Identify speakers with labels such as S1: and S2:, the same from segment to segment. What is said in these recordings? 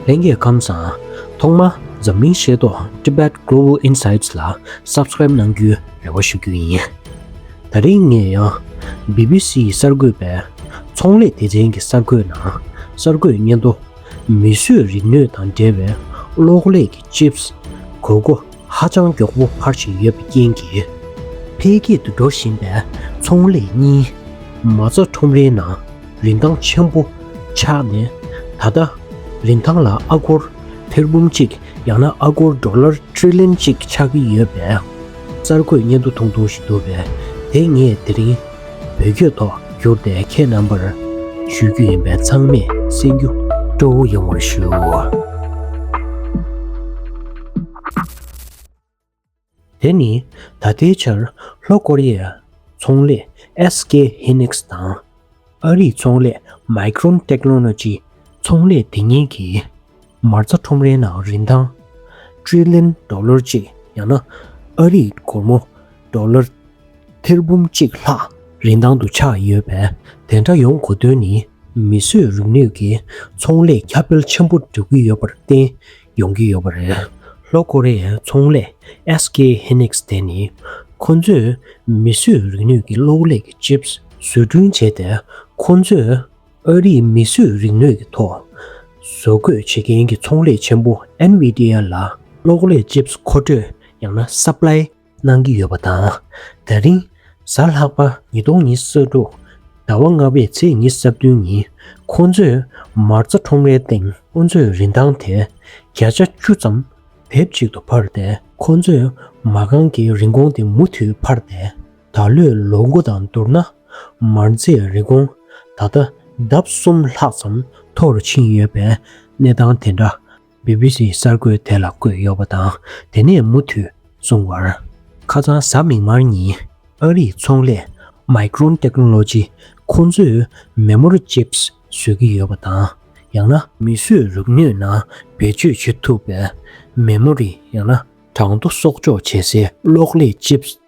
S1: ལྷན་རྒྱས་ཁམས་བཟང། ཐོག་མར་འཛམ་གླིང་ཤེས་རྟོགས Tibet Global Insights ལ Subscribe གནང་རྒྱུའི་རེ་བ་ཞུ་རྒྱུ་ཡིན། ད་རིང་ངས་ཡང BBC ཡི་གསར་འགོད་པས་ཚོང་ལས་སྡེ་ཚན་གྱི་གསར་འགོད་ནང་གསར་འགོད་སྙན་ཐོ། མིས་བཟོས་རིག་ནུས་དང་འབྲེལ་བའི་གློག་ཀླད་ཀྱི Chips། གོས་སྒོ། ཧ་ཅང་མགྱོགས་པོ་འཕར་བཞིན་ཡོད་པའི་རྐྱེན་གྱིས། འཕེལ་རྒྱས་དུ་འགྲོ་བཞིན་པའི་ཚོང་ལས་གཉིས། མ་རྩ་ཁྲོམ་རའི་ནང་རིན་ཐང་ཆེན་པོ་ཆགས་ནས། ད་ལྟ། རིན་ཐང་ལ་ཨ་སྒོར་ཐེར་འབུམ་གཅིག་ཡང་ན་ཨ་སྒོར་འགྲོ་ལར Trillion གཅིག་ཆགས་ཀྱི་ཡོད་པས། གསར་འགོད་བརྙན་ཐུང་ཐུང་ཐུང་ཞིག་འདུག་པས་དེ་ངས་དེ་རིང། བོད་སྐྱོད་ཐོག་བསྒྱུར་ཏེ་ཁྱེད་རྣམ་པར་ཞུ་རྒྱུ་ཡིན་པས་ཚང་མས་གསན་རྒྱུ་སྤྲོ་བོ་ཡོང་བར་ཞུ། དེ་ནི་ད་ལྟའི་ཆར་ལྷོ་ཀོ་རི་ཡའི་ཚོང་ལས SK Hynix དང་ཨ་རིའི་ཚོང་ལས Micron Technology ཚོང་ལས་དེ་གཉིས་ཀྱིས་མར་རྩ་ཁྲོམ་རའི་ནང་རིན་ཐང། Trillion Dollar། གཅིག་ཡང་ན་ཨ་རིའི་སྒོར་མོ། Dollar། ཐེར་འབུམ་གཅིག་ལྷག་རིན་ཐང་དུ་ཆགས་ཡོད་པས་དེ་འདྲ་ཡོང་དགོས་དོན་ནི་མིས་བཟོས་རིག་ནུས་ཀྱི་ཚོང་ལས་ཁྱབ་སྤེལ་ཆེན་པོ་འགྲོ་གི་ཡོད་པར་བརྟེན་ཡོང་གི་ཡོད་པ་རེད། ལྷོ་ཀོ་རེ་ཡའི་ཚོང་ལས SK Hynix དེ་ནི་ཁོ་ཚོས་མིས་བཟོས་རིག་ནུས་ཀྱི་གློག་ཀླད་ཀྱི Chips བཟོ་སྐྲུན་བྱས་ཏེ་ཁོ་ཚོས་ཨ་རིས་མིས་བཟོས་རིག་ནུས་ཀྱི་ཐོག་བཟོ་བཀོད་བྱེད་མཁན་གྱི་ཚོང་ལས་ཆེན་པོ NVIDIA ལ་གློག་ཀླད Chips མཁོ་སྤྲོད་ཡང་ན Supply གནང་གི་ཡོད་པ་དང། ད་རིང་གཟའ་ལྷག་པ་ཉིས་སྟོང་ཉིས་ས་དྲུག་ཟླ་བ་ལྔ་པའི་ཚེས་ཉི་ས་བདུན་ཉིན་ཁོ་ཚོས་མར་རྩ་ཁྲོམ་རའི་སྟེང་ཁོ་ཚོའི་རིན་ཐང་དེ་བརྒྱ་ཆ་བཅུ་ཙམ་བེབ་གཅིག་ཏུ་འཕར་ཏེ་ཁོ་ཚོས་མ་རྐང་གི་རིན་གོང་དེ་མུ་མཐུད་འཕར་ཏེ། ད་ལོའི་ལོ་འགོ་དང་བསྡུར་ན་མར་རྫས་རིན་གོང་ད་ལྟ་ལྡབ་གསུམ་ལྷག་ཙམ་མཐོ་རུ་ཕྱིན་ཡོད་པའི་གནས་སྟངས་དེ་འདྲ་སྦི་སྦི་སིའི་གསར་འགོད་དེ་ལ་བཀོད་ཡོད་པ་དང་དེ་ནས་མུ་མཐུད་གསུང་བར། ཁ་སང་གཟའ་མིག་དམར་ཉིན་ཨ་རིའི་ཚོང་ལས Micron Technology ཁོང་ཚོས་མེ་མོར Chips བཟོས་ཀྱི་ཡོད་པ་དང་ཡང་ན། མི་གསོད་རུག་སྣོད་ནང་བེད་སྤྱོད་བྱེད་ཐུབ་པའི་མེ་མོ་རི་ཡང་ན་གྲང་དུ་གསོག་འཇོག་བྱེད་སའི་གློག་ཀླད Chips།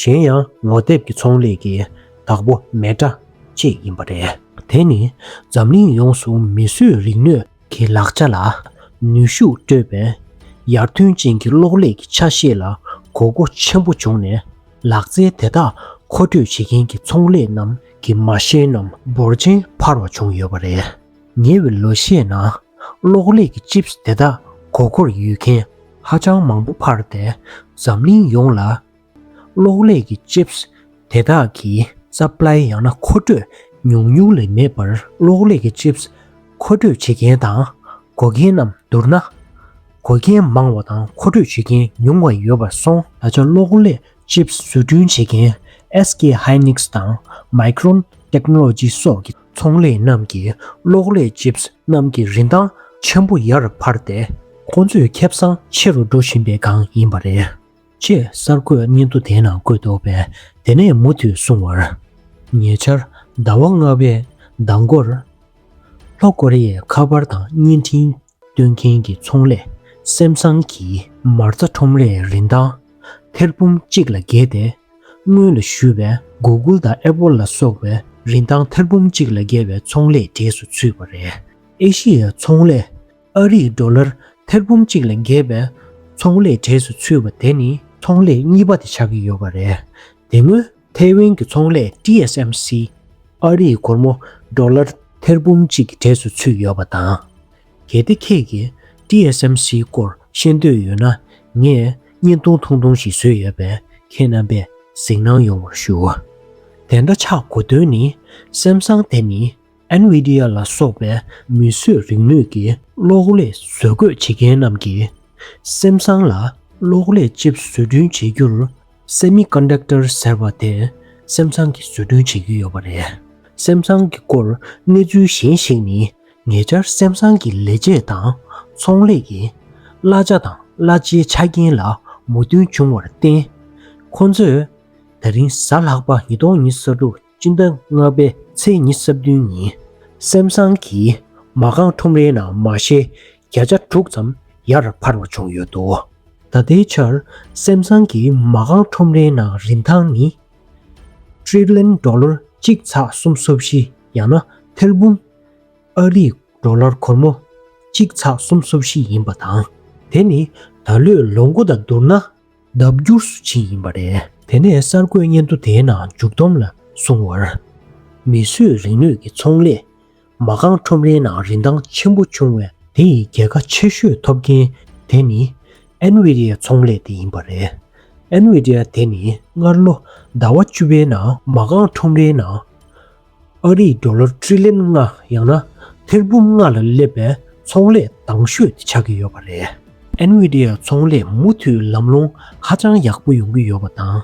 S1: གཞན་ཡང་ངོ་དེབ་ཀྱི་ཚོང་ལས་ཀྱི་བདག་པོ་མེ་སྒྲ་གཅིག་ཡིན་པ་རེད། དེ་ནི་འཛམ་གླིང་ཡོངས་སུ་མིས་བཟོས་རིག་ནུས་ཀྱི་ལག་ཆ་ལ་ནུས་ཤུགས་སྤྲོད་པའི་ཡར་ཐོན་ཅན་གྱི་གློག་ཀླད་ཀྱི་ཆ་ཤས་ལ་གོ་དགུ་ཆེན་པོ་བྱུང་ནས་ལག་རྩལ་དེ་དག་མཁོ་སྤྲོད་བྱེད་མཁན་གྱི་ཚོང་ལས་རྣམས་ཀྱི་མ་ཤེས་རྣམས་འབོར་ཆེན་འཕར་བ་བྱུང་ཡོད་པ་རེད། ཉེ་བའི་ལོ་ཤས་ནང་གློག་ཀླད་ཀྱི Chips དེ་དག་མགོ་སྐོར་ཡོད་མཁན་ཧ་ཅང་མང་པོ་འཕར་ཏེ་འཛམ་གླིང་ཡོངས་ལ་གློག་ཀླད་ཀྱི Chips དེ་དག་གི Supply ཡང་ན་མཁོ་སྤྲོད་ཉུང་ཉུང་ལས་མེད་པར་གློག་ཀླད་ཀྱི Chips མཁོ་སྤྲོད་བྱེད་མཁན་དང་བགོ་མཁན་རྣམས་བསྡུར་ན། བགོ་མཁན་མང་བ་དང་མཁོ་སྤྲོད་བྱེད་མཁན་ཉུང་བ་ཡོད་པར་སོང། ད་ཆ་གློག་ཀླད Chips བཟོ་སྐྲུན་བྱེད་མཁན SK Hynix དང Micron Technology སོགས་ཀྱི་ཚོང་ལས་རྣམས་ཀྱིས་གློག་ཀླད Chips རྣམས་ཀྱི་རིན་ཐང་ཆེན་པོ་ཡར་འཕར་ཏེ། ཁོ་ཚོའི་ཁེབས་བཟང་ཆེ་རུ་འགྲོ་བཞིན་པའི་སྒང་ཡིན་པ་རེད། ཅེས་གསར་འགོད་སྙན་ཐོ་དེའི་ནང་བཀོད་འདུག་པས་དེ་ནས་མུ་མཐུད་གསུང་བར། ཉེ་ཆར་ཟླ་བ་ལྔ་བའི་ཟླ་མགོར། ལྷོ་ཀོ་རི་ཡས་ཁ་པར་དང་བརྙན་འཕྲིན། སྟོན་མཁན་གྱི་ཚོང་ལས་སེམས་བཟང་གིས། མར་རྩ་ཁྲོམ་རའི་རིན་ཐང་ཐེར་འབུམ་གཅིག་ལ་བརྒལ་ཏེ། སྔོན་ལ་ཞུས་པའི Google དང Apple ལ་སོགས་པའི་རིན་ཐང་ཐེར་འབུམ་གཅིག་ལ་བརྒལ་བའི་ཚོང་ལས་གྲས་སུ་ཚུད་པ་རེད། ཨེ་ཤི་ཡའི་ཚོང་ལས་ཨ་རིས་ཟློ་ལར་ཐེར་འབུམ་གཅིག་ལ་བརྒལ་བའི་ཚོང་ལས་གྲས་སུ་ཚུད་པ་དེ་ནི། ཚོང་ལས་གཉིས་པ་དེ་ཆགས་ཀྱི་ཡོད་པ་རེད། དེ་སྔོན་ཐའེ་ཝན་གྱི་ཚོང་ལས TSMC། ཨ་རིའི་སྒོར་མོ་དཱོ་ལར་ཐེར་འབུམ་གཅིག་གི་གྲས་སུ་ཚུད་ཡོད་པ་དང། གལ་ཏེ་ཁྱེད་ཀྱིས TSMC སྐོར་ཤེས་འདོད་ཡོད་ན་ངས་བརྙན་ཐུང་ཐུང་ཐུང་ཞིག་བཟོས་ཡོད་པས་ཁྱེད་རྣམ་པས་གཟིགས་སྣང་ཡོང་བར་ཞུ། དེ་འདྲ་ཆགས་དགོས་དོན་ནི་སེམས་བཟང་དེ་ནི། NVIDIA ལ་སོགས་པའི་མིས་བཟོས་རིག་ནུས་ཀྱི་གློག་ཀླད་བཟོ་འགོད་བྱེད་མཁན་རྣམས་ཀྱིས་སེམས་བཟང་ལ་གློག་ཀླད་ལྕིབས་བཟོ་སྐྲུན་བྱེད་རྒྱུར། Semiconductor། ཟེར་བ་དེ་སེམས་བཟང་གིས་བཟོ་སྐྲུན་བྱེད་ཀྱི་ཡོད་པ་རེད། སེམས་བཟང་གི་སྐོར་གནས་ཚུལ་གཞན་ཞིག་ནི་ཉེ་ཆར་སེམས་བཟང་གི་ལས་བྱེད་དང་ཚོང་ལས་ཀྱིས་གླ་ཆ་དང་གླ་ཆའི་ཆ་རྐྱེན་ལ་མོས་མཐུན་བྱུང་བར་བརྟེན། ཁོ་ཚོས་ད་རིང་གཟའ་ལྷག་པ་ཉིས་སྟོང་ཉིས་སོ་དྲུག་སྤྱི་ཟླ་ལྔ་པའི་ཚེས་ཉི་ས་བདུན་ཉིན་སེམས་བཟང་གིས་མ་རྐང་ཁྲོམ་རའི་ནང་མ་ཤའི་བརྒྱ་ཆ་དྲུག་ཙམ་ཡར་འཕར་བ་བྱུང་ཡོད་འདུག་ད་ལྟའི་ཆར་སེམས་བཟང་གི་མ་རྐང་ཁྲོམ་རའི་ནང་རིན་ཐང་ནི། Trillion Dollar། གཅིག་ཚགས་གསུམ་སོ་བཞི་ཡང་ན་ཐེར་འབུམ། ཨ་རིག་འགྲོ་ལར་གོར་མོ། གཅིག་ཚགས་གསུམ་སོ་བཞི་ཡིན་པ་དང་དེ་ནི་ད་ལོའི་ལོ་མགོ་དང་བསྡུར་ན་ལྡབ་འགྱུར་སུ་ཕྱིན་ཡིན་པ་རེད། དེ་ནས་གསར་འགོད་སྙན་ཐོ་དེའི་ནང་མཇུག་བསྡོམས་ལ་གསུངས་བར། མིས་བཟོས་རིག་ནུས་ཀྱི་ཚོང་ལས། མ་རྐང་ཁྲོམ་རའི་ནང་རིན་ཐང་ཆེན་པོ་བྱུང་བས། དེ་ཡི་རྒྱལ་ཁ་ཆེ་ཤོས་ཐོབ་མཁན་དེ་ནི། Nvidia ཚོང་ལས་དེ་ཡིན་པ་རེད། Nvidia དེ་ནི་སྔར་ལོ་ཟླ་བ་བཅུ་པའི་ནང་མ་རྐང་ཁྲོམ་རའི་ནང། ཨ་རིའི་རྡོ་ལ་ཁྲི་ལན་ལྔ་ཡང་ན་ཐེར་འབུམ་ལྔ་ལ་སླེབས་པའི་ཚོང་ལས་འདང་ཤོས་དེ་ཆགས་ཀྱི་ཡོད་པ་རེད། Nvidia ཚོང་ལས་མུ་མཐུད་ལམ་ལྷོང་ཧ་ཅང་ཡག་པོ་ཡོང་གི་ཡོད་པ་དང།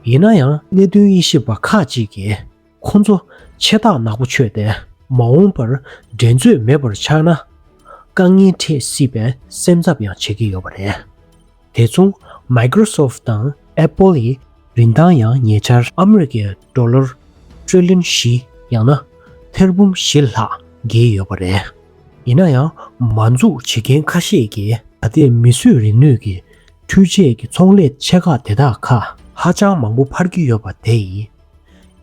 S1: ཡིན་ན་ཡང་གནད་དོན་དབྱེ་ཞིབ་པ་ཁག་ཅིག་གིས་ཁོང་ཚོ་ཆེ་རྟགས་ནག་པོ་ཆོད་དེ་མ་འོངས་པར་འགྲན་རྩོད་མེད་པར་ཆགས་ན་དཀའ་ངལ་འཕྲད་སྲིད་པའི་སེམས་འཚབ་ཡང་བྱེད་ཀྱི་ཡོད་པ་རེད། དེ་མཚུངས Microsoft དང Apple ཡི་རིན་ཐང་ཡང་ཉེ་ཆར། ཨ་མི་རི་ཀའི་འགྲོ་ལོར་ཅུས་ལིན་ཞི་ཡང་ན་ཐེར་འབུམ་བཞི་ལྷག་བརྒལ་ཡོད་པ་རེད། ཡིན་ན་ཡང་མ་འཛུགས་བྱེད་མཁན་ཁ་ཤས་ཀྱིས། ད་ལྟའི་མིས་བཟོས་རིག་ནུས་ཀྱི་འཕྲུལ་ཆས་ཀྱི་ཚོང་ལས་ཆེ་ཁག་དེ་དག་ཁ། ཧ་ཅང་མང་པོ་འཕར་གྱི་ཡོད་པ་དེ་ཡིན།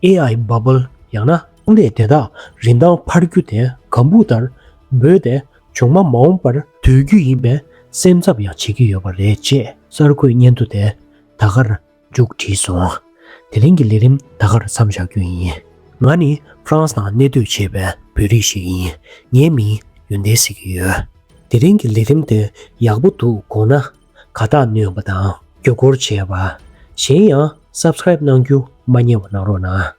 S1: AI Bubble ཡང་ན་ཚོང་ལས་དེ་དག་རིན་ཐང་འཕར་རྒྱུ་དེ་གམ་བུ་ལྟར་འབོད་དེ་བྱུང་མ་མ་འོངས་པར་སྡོད་རྒྱུ་ཡིན་པའི་སེམས་འཚབ་ཡང་བྱེད་ཀྱི་ཡོད་པ་རེད་ཅེས་གསར་འགོད་སྙན་ཐོ་དེ་ད་གར་མཇུག་བསྒྲིལ་སོང། དེ་རིང་གི་ལས་རིམ་ད་གར་མཚམས་བཞག་རྒྱུ་ཡིན། ང་ནི་ཧྥ་རན་སི་ནང་གནས་སྡོད་བྱེད་པའི་བོད་རིགས་ཤིག་ཡིན། ངའི་མིང་ཡོན་ཏན་ཟེར་གྱི་ཡོད། དེ་རིང་གི་ལས་རིམ་དེ་ཡག་པོ་འདུག་དགོངས་ན། ག་དག་ནུས་པ་དང་སྐྱོ་སྐོར་བྱས་པ། གཞན་ཡང Subscribe གནང་རྒྱུ་མ་རྙེད་བ་གནང་རོགས་གནང།